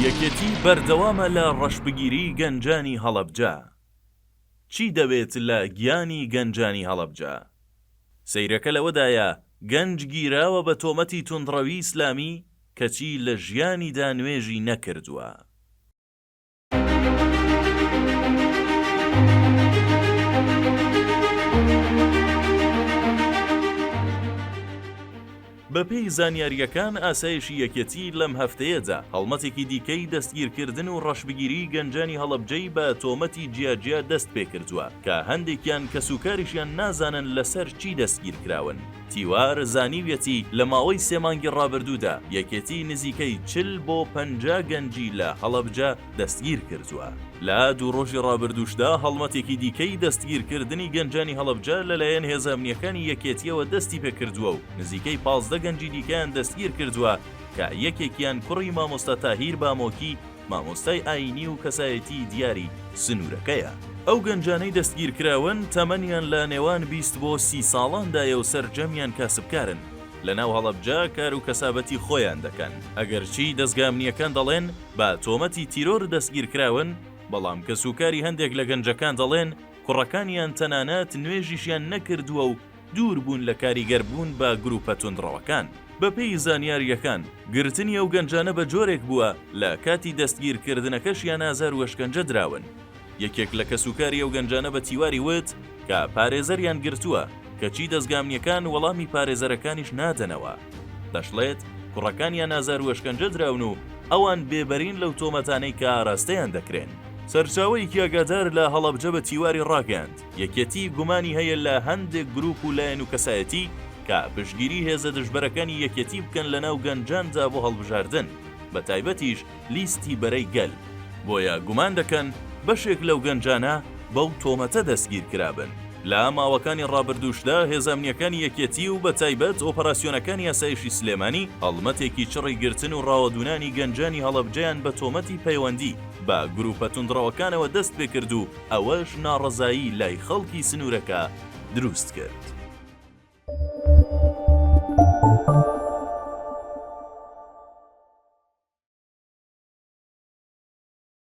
یەکێتی بەردەوامە لە ڕەشبگیری گەنجانی هەڵەبجە چی دەوێت لە گیانی گەنجانی هەڵەبجە؟ سەیرەکە لەوەدایە گەنج گیراوە بە تۆمەتی توندڕەوی ئیسلامی کەچی لە ژیانیدا نوێژی نەکردووە. بەپێی زانیارییەکان ئاسایشی یەکێتی لەم هەفتەیەدا هەڵمەتێکی دیکەی دەستگیرکردن و ڕەشبگیریی گەنجانی هەڵەبجەی بە تۆمەتی جیاجیا دەستپێکردووە کە هەندێکیان کەسوکاریشیان نازانن لەسەر چی دەستگیرکراون. تیوار زانیویەتی لە ماوەی سێ مانگی ڕابردوودا یەکێتی نزیکەی چل بۆ پەنجا گەنجی لە هەڵەبجە دەستگیرکردووە، لە دوو ڕۆژی ڕابردووشدا هەڵمەتێکی دیکەی دەستگیرکردنی گەنجانی هەڵەبجە لەلایەن هێزە ئەمنییەکانی یەکێتییەوە دەستیپێکردووە و نزیکەی پازدە گەنجی دیکەیان دەستگیرکردووە کە یەکێکیان کوڕی مامۆستا تاهیر بامۆکی مامۆستای ئایینی و کەسایەتیی دیاری سنوورەکەیە. ئەو گەنجانەی دەستگیرکراون، تەمەنیان لە نێوان بیست بۆ سی ساڵاندایە و سەرجەمیان کاسبکارن، لەناو هەڵەبجە کار و کەسابەتی خۆیان دەکەن، ئەگەرچی دەزگا ئەمنییەکان دەڵێن بە تۆمەتی تیرۆر دەستگیرکراون، بەڵام کەسوکاری هەندێک لە گەنجەکان دەڵێن کوڕەکانیان تەنانەت نوێژیشیان نەکردووە و دوور بوون لە کاریگەر بوون بە گروپە توندڕەوەکان. بە پێی زانیارییەکان، گرتنی ئەو گەنجانە بە جۆرێک بووە لە کاتی دەستگیر کردنەکەشیان ئازار و ئەشکەنجە دراون. یەکێک لە کەس و کاری ئەو گەنجانە بە تیواری وت کە پارێزەریان گرتووە، کەچی دەزگا ئەمنیەکان وەڵامی پارێزەرەکانیش نادەنەوە. دەشڵێت کوڕەکانیان ئازار و ئەشکەنجە دراون و ئەوان بێبەرین لەو تۆمەتانەی کە ئاراستەیان دەکرێن. سەرچاوەیەکی ئاگادار لە هەڵەبجە بە تیواری ڕاگەیاند، یەکێتی گومانی هەیە لە هەندێک گروپ و لایەن و کەسایەتی کە پشگیری هێزە دژبەرەکانی یەکێتی بکەن لە ناو گەنجاندا بۆ هەڵبژاردن بە تایبەتیش لیستی بەرەی گەل بۆیە گومان دەکەن بەشێک لەو گەنجانە بەو تۆمەتە دەستگیرکرابن. لە ماوەکانی ڕابردووشدا هێزە ئەمنییەکانی یەکێتی و بە تایبەت ئۆپەراسیۆنەکانی ئاسایشی سلێمانی هەڵمەتێکی چڕی گرتن و ڕاوەدوونانی گەنجانی هەڵەبجەیان بە تۆمەتی پەیوەندی بە گروپە توندڕەوەکانەوە دەستپێکرد و ئەوەش ناڕەزایی لای خەڵکی سنوورەکە دروست کرد.